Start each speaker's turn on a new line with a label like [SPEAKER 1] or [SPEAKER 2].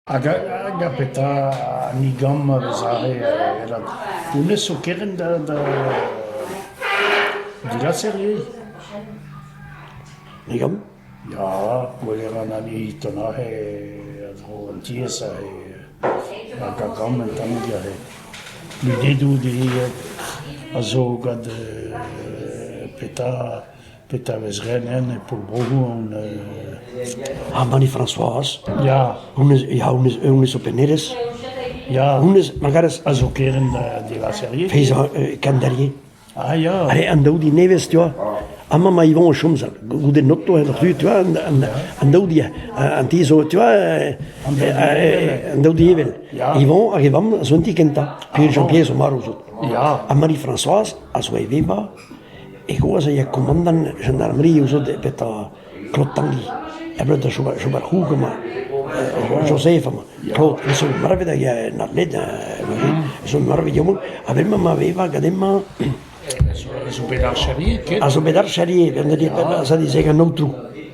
[SPEAKER 1] Hag a petra ni gamm a vez aze vat hounnez zo kerent da da digaser ivez ?
[SPEAKER 2] Ni gamm ? Ya,
[SPEAKER 1] gwellañ na ni ton aze a-dro an tiez aze hag a gamm un tammig aze. Lunedoù dezhe a zo gant petra. Petra 'vez ret nen e Pol Bro-Ouan euh...
[SPEAKER 2] Ar Banne François. Ya. Honnezh
[SPEAKER 1] ya honnezh
[SPEAKER 2] honnezh zo pennerez. Ya. Honnezh
[SPEAKER 1] magaras
[SPEAKER 2] a zo kerent
[SPEAKER 1] de la serie. Feiz kandalier.
[SPEAKER 2] Ah ya.
[SPEAKER 1] Allez, an daou di nevez,
[SPEAKER 2] tu vois. Ama ma Yvon o chom sa goude noto en ru, tu vois, an daou di an ti zo, tu vois, an daou di evel. Yvon hag e vamm a zo un ti kentañ. Puis Jean-Pierre zo marv zo. Ya. Ha
[SPEAKER 1] Marie-Françoise
[SPEAKER 2] a zo e veva. E c'hoazh e ya komandant jeneralioù zo da baetañ Klotangi abred da chom er c'houg amañ, Jozef amañ. Klod, me 'zo marvet hag en atlet, me 'zo marvet Yomon, ha bremañ ma vevañ gant hemañ
[SPEAKER 1] A zo bet archerier ket?
[SPEAKER 2] A zo bet archerier, bezañ dit an aotrou.